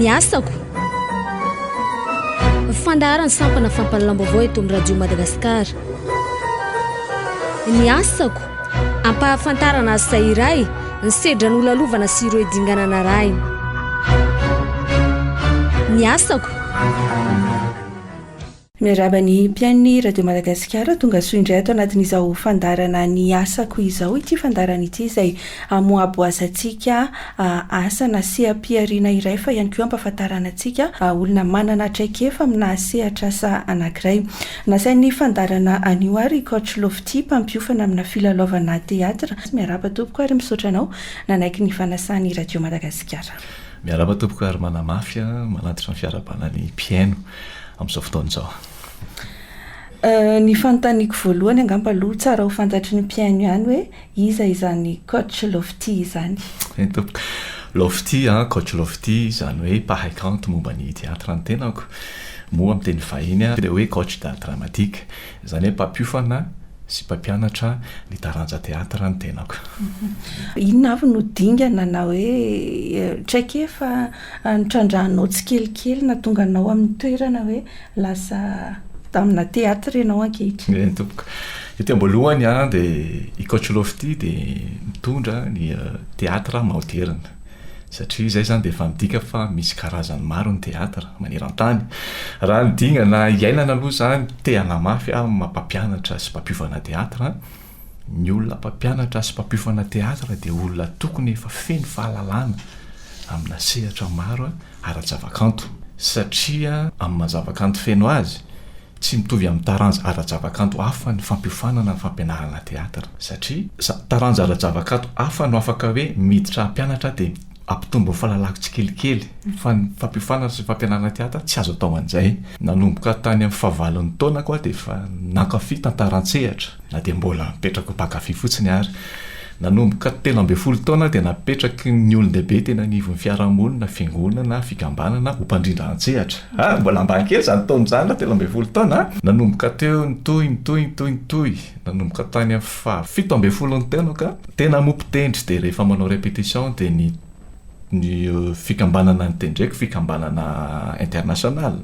ny asako fandaharan'ny sampana fampalalam-baovao eto amin'ny radio Madagascar ny asako ampahafantarana asa iray ny sedra nolalovana sy ireo dingana narahina ny asako Miarahaba ny mpiain'ny Radio Madagasikara, tonga soa indray ato anatin'izao fandaharana ny asako izao ity fandaharana ity izay hamoabo azantsika asa na seha-pihariana iray fa ihany koa hampahafantarana antsika olona manana traikefa amina sehatr'asa anankiray. Nasain'ny fandaharana anio ary i Coach Lofty mpampiofana amina filalaovana teatra. Miarahaba tompoko ary misaotra anao nanaiky ny fanasan'ny Radio Madagasikara. Miarahaba tompoko ary manamafy manatitra ny fiarahabana ny mpihaino. amin'izao fotoana izao? Ny fanontaniako voalohany angamba aloha tsara ho fantatry ny mpihaino ihany hoe iza izany coach Lofty izany? Eny tompoko. Lofty, coach Lofty, izany hoe mpahay kanto momba ny theatre ny tenako. Moa amin'ny teny vahiny dia hoe coach d'art dramatique. Izany hoe mpampiofana sy mpampianatra ny taranja theatre ny tenako. Inona avy no dingana na hoe traikefa? Nitrandrahanao tsikelikely nahatonga anao amin'ny toerana hoe lasa damina theatre ianao ankehitriny? Eny tompoko. Ety am-boalohany an, dia i Coach Lofty dia mitondra ny theatre maoderina. Satria izay izany dia efa midika fa misy karazany maro ny theatre maneran-tany. Raha ny dingana iainana aloha izany, te-hanamafy aho amin'ny maha-mpampianatra sy mpampiova anà theatre an. Ny olona mpampianatra sy mpampiofana teatra dia olona tokony efa feno fahalalana amina sehatra maro ara-javakanto, satria amin'ny maha zavakanto feno azy, tsy mitovy amin'ny taranja ara-javakanto hafa ny fampiofanana ny fampianarana teatra, satria taranja ara-javakanto hafa no afaka hoe miditra hampianatra dia hampitombo ny fahalalako tsikelikely, fa ny fampiofanana sy ny fampianarana teatra tsy azo atao an'izay. Nanomboka tany amin'ny fahavalon'ny taonako aho dia efa nankafy tantara an-tsehatra. Na dia mbola mipetraka ho mpankafy fotsiny ary, nanomboka telo ambin'ny folo taona aho dia napetraky ny olon-dehibe teny anivon'ny fiarahamonina, fiangonana, fikambanana, ho mpandrindra an-tsehatra. Ary mbola ambany kely izany taona izany, raha telo ambin'ny folo taona aho. Nanomboka teo, nitohy, nitohy, nitohy, nitohy, nanomboka tany amin'ny fahafito ambin'ny folon'ny taona ka. Tena moa mpitendry dia rehefa manao répétition dia ny ny fikambanana nitendreko fikambanana international.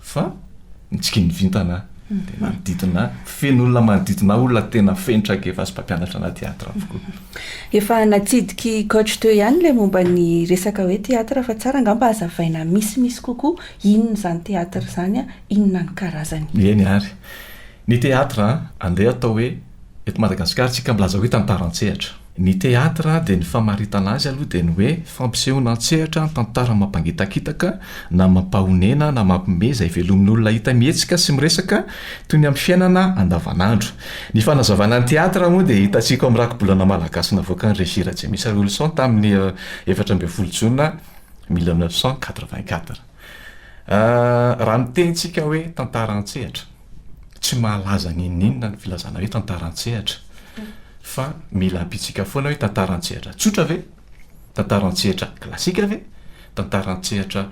Fa nitsiky ny vintana aho, dia manodidina ahy, feno olona manodidina ahy, olona tena feno traikefa sy mpampianatra anahy teatra avokoa. Efa natsidiky coach teo ihany ilay momba ny resaka hoe teatra fa tsara angamba hazavaina misimisy kokoa inona izany teatra izany, inona ny karazany. Eny ary. Ny théâtre andeha atao hoe eto Madagasikara tsika mbola aza hoe tantara an-tsehatra. Ny théâtre dia ny famaritana azy aloha dia ny hoe fampisehoana an-tsehatra ny tantara mampangitakitaka na mampahonena na mampiomehy izay velomin' olona hita mihetsika sy miresaka toy ny amin'ny fiainana andavanandro. Ny fanazavana ny théâtre moa dia hitantsika ao amin'ny rakibolana malagasy navoakan'ny Régie Rajemisa Wilson tamin'ny efatra ambin'ny folo jona mille neuf cent quatre-vingt-quatre. Raha miteny tsika hoe tantara an-tsehatra. tsy mahalaza n'inon'inona ny filazana hoe tantara an-tsehatra fa mila ampitsika foana hoe tantara an-tsehatra tsotra ve? Tantara an-tsehatra klasika ve? Tantara an-tsehatra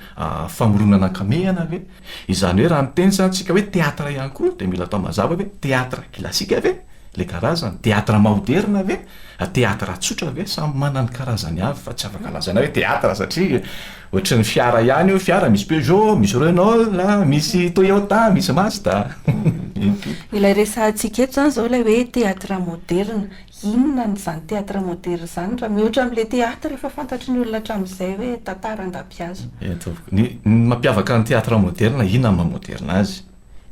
famoronana ankamehana ve? Izany hoe raha miteny zany tsika hoe teatra ihany koa de mila atao mazava ve? Teatra klasika ve le karazany? Teatra maoderina ve? Teatra tsotra ve? Samy manana ny karazany avy fa tsy afaka lazaina hoe teatra satria Ohatrin'ny fiara ihany io fiara misy Peugeot, misy Renault, misy Toyota, misy Mazda. Ilay resahantsika eto izany izao ilay hoe théâtre moderne. Inona ny izany théâtre moderne izany raha mihoatra amin'ilay théâtre efa fantatry ny olona hatramin'izay hoe tantara andapihazo. Ny mampiavaka ny théâtre moderne inona ny maha moderne azy?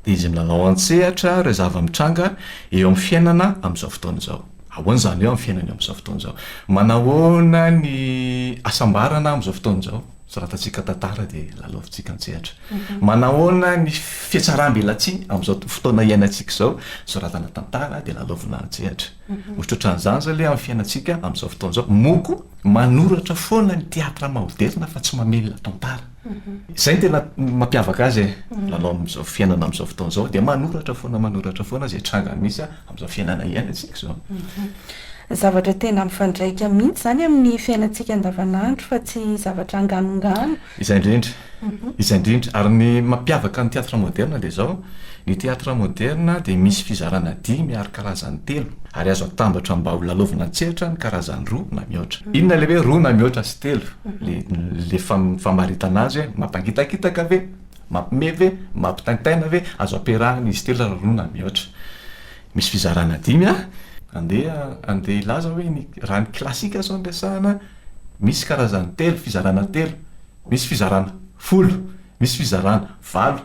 dia izy milalao an-tsehatra ireo zava-mitranga eo amin'ny fiainana amin'izao fotoana izao. Ahoana izany eo amin'ny fiainana eo amin'izao fotoana izao? Manahoana ny hasambarana amin'izao fotoana izao? Soratantsika tantara dia lalaovintsika an-tsehatra. Manahoana ny fihatsaram-belatsihy amin'izao fotoana iainantsika izao? Soratana tantara dia lalaovina an-tsehatra. Mitroatra an'izany izao ilay amin'ny fiainantsika amin'izao fotoana izao. Moa koa manoratra foana ny teatra maoderina fa tsy mamelona tantara. Izay no tena mampiavaka azy e, lalao amin'izao fiainana amin'izao fotoana izao dia manoratra foana manoratra foana izay tranga misy amin'izao fiainana iainantsika izao. Zavatra tena mifandraika mihitsy izany amin'ny fiainantsika andavanandro fa tsy zavatra anganongano. Izay indrindra, izay indrindra. Ary ny mampiavaka ny theatre moderne dia izao, Ny teatra moderna dia misy fizarana dimy ary karazany telo, ary azo atambatra mba ho lalaovina an-tsehatra ny karazany roa na mihoatra. Inona ilay hoe roa na mihoatra sy telo? Ilay famaritana azy hoe mampangitakitaka ve? Mampime ve? Mampitaintaina ve? Azo ampiarahina izy telo raha roa na mihoatra. Misy fizarana dimy an! Andeha andeha hilaza hoe ny raha ny klasika izao no resahana, misy karazany telo, fizarana telo, misy fizarana folo, misy fizarana valo.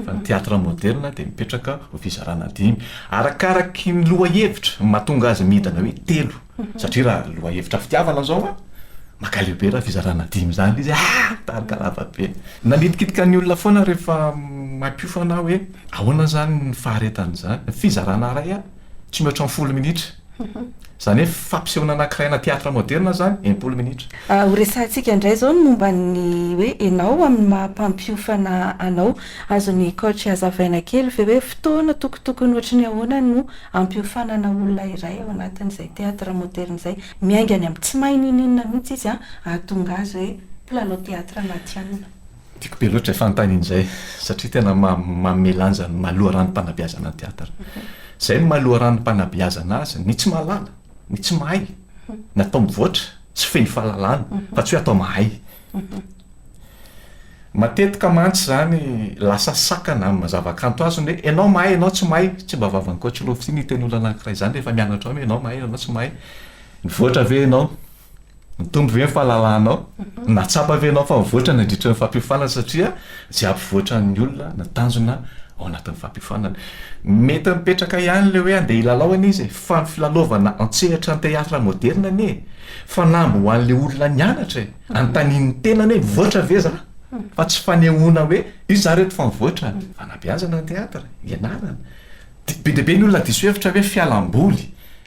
fa ny teatra moderina dia mipetraka ho fizarana dimy arakaraky ny lohahevitra no mahatonga azy midana hoe telo satria raha lohahevitra fitiavana izao a makaleo be raha fizarana dimy izany ilay izy ah tarika lava be nanitikitika ny olona foana rehefa mahay mpiofana aho hoe ahoana izany ny faharetan'izany ny fizarana iray a tsy mihoatra ny folo minitra. Izany hoe fampisehoana anankiray ana théâtre moderne izany, enimpolo minitra. Ho resahantsika indray izao ny momba ny hoe ianao amin'ny maha mpampiofana anao. Azon'ny coach hazavaina kely ve hoe fotoana tokotokony ohatry ny ahoana no hampiofanana olona iray ao anatin'izay théâtre moderne izay? Miainga any amin'ny tsy mahay ninoninona mihitsy izy hahatonga azy hoe mpilalao théâtre matihanina. Tiako be loatra fanontaniana izay satria tena manome lanja ny maha loharanom-panabeazana ny teatatra. Izay no maha loharanom-panabeazana azy, ny tsy mahalala, ny tsy mahay, ny atao mivoatra sy feno fahalalana fa tsy hoe atao mahay. Matetika mantsy izany lasa sakana amin'ny zavakanto azy ny hoe ianao mahay ianao tsy mahay, tsy mba vavan'Ankoatroloha fitia ny hiteny olona anankiray izany rehefa mianatra ao ny hoe ianao mahay ianao tsy mahay, mivoatra ve ianao? Mitombo ve ny fahalalanao? Na tsapa ve ianao fa mivoatra nandritra ny fampiofanana satria izay hampivoatran'ny olona na tanjona ao anatin'ny fampiofanana? Mety mipetraka ihany ilay hoe andeha hilalao anie izy e! Fa ny filalaovana an-tsehatra ny théâtre moderne anie e! Fanamby ho an'ilay olona nianatra e! Anontanian'ny tenany hoe mivoatra ve za? Fa tsy fanehoana hoe iza za reto fa mivoatra an! Fanabeazana ny théâtre, ianarana. Be dia be ny olona diso hevitra hoe fialamboly.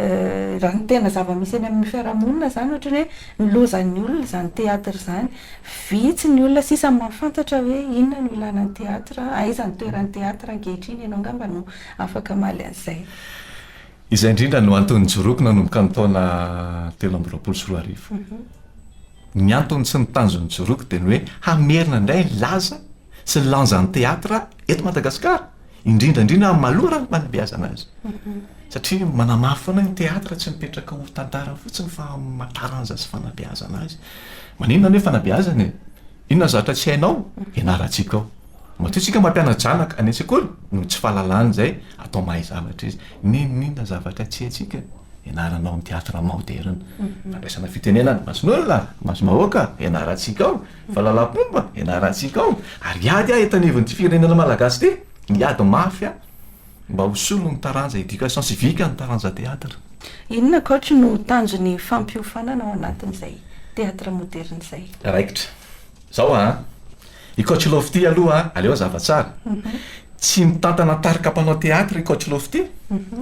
Raha ny tena zava-misy eny amin'ny fiarahamonina izany ohatra ny hoe ny lozan'ny olona izany théâtre izany. Vitsy ny olona sisa mahafantatra hoe inona no ilàna ny théâtre, aiza ny toeran'ny théâtre ankehitriny. Ianao angamba no afaka hamaly an'izay. Izay indrindra no antony nijoroako nanomboka ny taona telo amby roapolo sy roa arivo. Ny antony sy ny tanjon'ny nijoroako dia ny hoe hamerina indray ny laza sy ny lanjan'ny théâtre eto Madagasikara. indrindra indrindra amin'ny malora ny fanabeazana azy satria manamafy foana ny théâtre tsy mipetraka ho tantara fotsiny fa amin'ny taranja sy fanabeazana azy maninona ny hoe fanabeazana e inona zavatra tsy hainao ianarantsika ao matoa tsika mampiana-janaka any an-tsekoly no tsy fahalalana izay atao mahay zavatra izy ninoninona zavatra tsy haintsika ianaranao amin'ny théâtre moderina fandraisana fitenenana mason'olona masom-bahoaka ianarantsika ao Valalampomba ianarantsika ao ary ady aho eto anivon'ity firenena malagasy ity, miady mafy aho mba ho solon'ny taranja éducation civique ny taranja théâtre. Inona coach no tanjon'ny fampiofanana ao anatin'izay théâtre moderne izay? Raikitra. Zao an! I coach Lofty aloha an, aleo hazava tsara. Tsy mitantana tarika mpanao théâtre i coach Lofty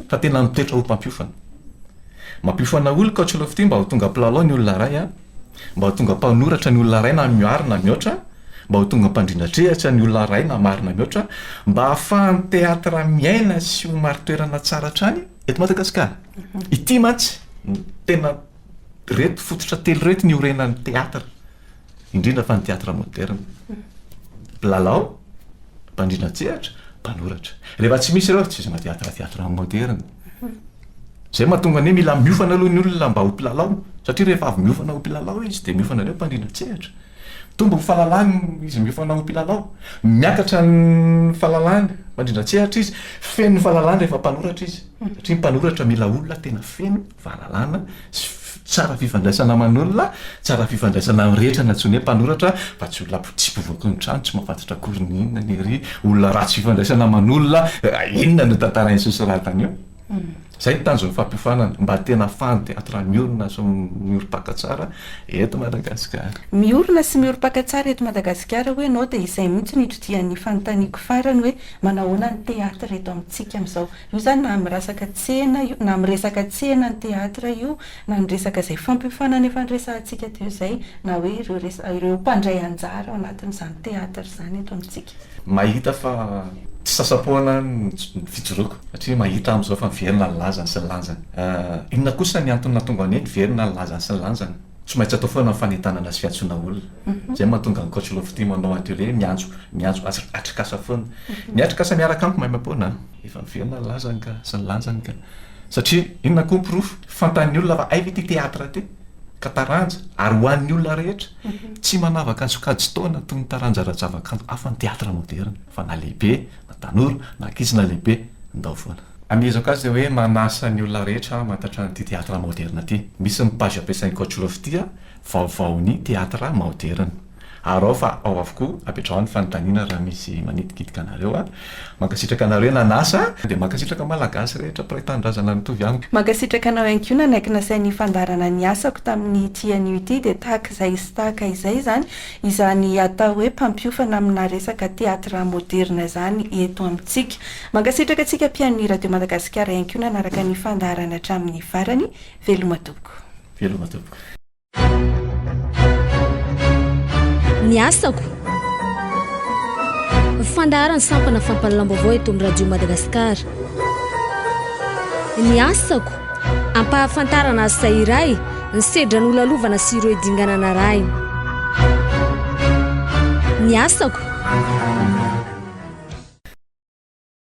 fa tena mitoetra ho mpampiofana. Mampiofana olona i coach Lofty mba ho tonga mpilalao ny olona iray an! Mba ho tonga mpanoratra ny olona iray na mihoary na mihoatra, mba ho tonga mpandrindra an-tsehatra ny olona iray na maro na mihoatra, mba hahafahan'ny teatra miaina sy ho marin-toerana tsara hatrany eto Madagasikara. Ity mantsy no tena, ireto fototra telo ireto no iorenan'ny teatra, indrindra fa ny teatra moderina. Mpilalao, mpandrindra an-tsehatra, mpanoratra. Rehefa tsy misy ireo, tsy izy mateatra teatra moderina. Izay mahatonga ny hoe mila miofana aloha ny olona mba ho mpilalao, satria rehefa avy miofana ho mpilalao izy dia miofana indray ho mpandrindra an-tsehatra. Mitombo ny fahalalany izy miofana ho mpilalao. Miakatra ny fahalalany mpandrindra an-tsehatra izy. Feno ny fahalalany rehefa mpanoratra izy, satria ny mpanoratra mila olona tena feno fahalalana sy tsara fifandraisana aman'olona, tsara fifandraisana amin'ny rehetra no antsoina hoe mpanoratra fa tsy olona potsipy voaky ny trano tsy mahafantatra akory ny inona ny ery, olona ratsy fifandraisana aman'olona, inona no tantarain'i Sosoratana eo? Izay ny tanjon'ny fampiofanana, mba tena afahan'ny teatra miorina sy miorim-paka tsara eto Madagasikara. Miorina sy miorim-paka tsara eto Madagasikara hoy ianao dia izay mihitsy no itodihan'ny fanontaniako farany hoe manahoana ny teatra eto amintsika amin'izao. Io izany na amin'ny rasaka tsena io, na amin'ny resaka tsena ny teatra io na ny resaka izay fampiofanana efa niresahantsika teo izay na hoe ireo resaka ireo mpandray anjara ao anatin'izany théâtre izany eto amintsika. Mahita fa tsy sasa-poana ny fijoroako satria mahita aho amin'izao fa miverina ny lazany sy ny lanjany. Inona kosa ny antony nahatonga ny hoe miverina ny lazany sy ny lanjany? Tsy maintsy atao foana ny fanentanana sy fiantsoana olona. Izay no mahatonga an'i Coach Lofty manao atelier miantso miantso atrikasa foana. Ny atrikasa miaraka amiko maimaipoana an! Efa miverina ny lazany ka, sy ny lanjany ka. Satria inona koa ny porofo? Fantan'ny olona fa hay ve ity teatra ity? Ka taranja, ary ho an'ny olona rehetra. Tsy manavaka ny sokajin-taona toy ny taranja ara-javakanto hafa ny teatra moderina, fa na lehibe, na tanora, na ankizy, na lehibe, ndao foana. Amehezako azy hoe manasa ny olona rehetra hamantatra an'ity teatra moderina ity. Misy ny page ampiasain'i Coach Lofty, Vaovaon'ny teatra moderina. ary ao fa ao avokoa, apetraho ny fanontaniana raha misy manitikitika anareo a! Mankasitraka anareo nanasa a! Dia mankasitraka Malagasy rehetra mpiray tanindrazana mitovy amiko. Mankasitraka anao ihany koa nanaiky nasain' ny fandaharana ny asako tamin' ity anio ity dia tahaka izay sy tahaka izay izany izany atao hoe mpampiofana amina resaka teatra moderina izany eto amintsika. Mankasitraka antsika mpihaino ny Radio Madagasikara ihany koa nanaraka ny fandaharana hatramin' ny farany. Veloma tompoko. Veloma tompoko. ny asako fandaharan'ny sampana fampalalam-baovao eto amin'ny radio madagasikara ny asako ampahafantarana asa iray ny sedra nolalovana sy ireo dingana narahina ny asako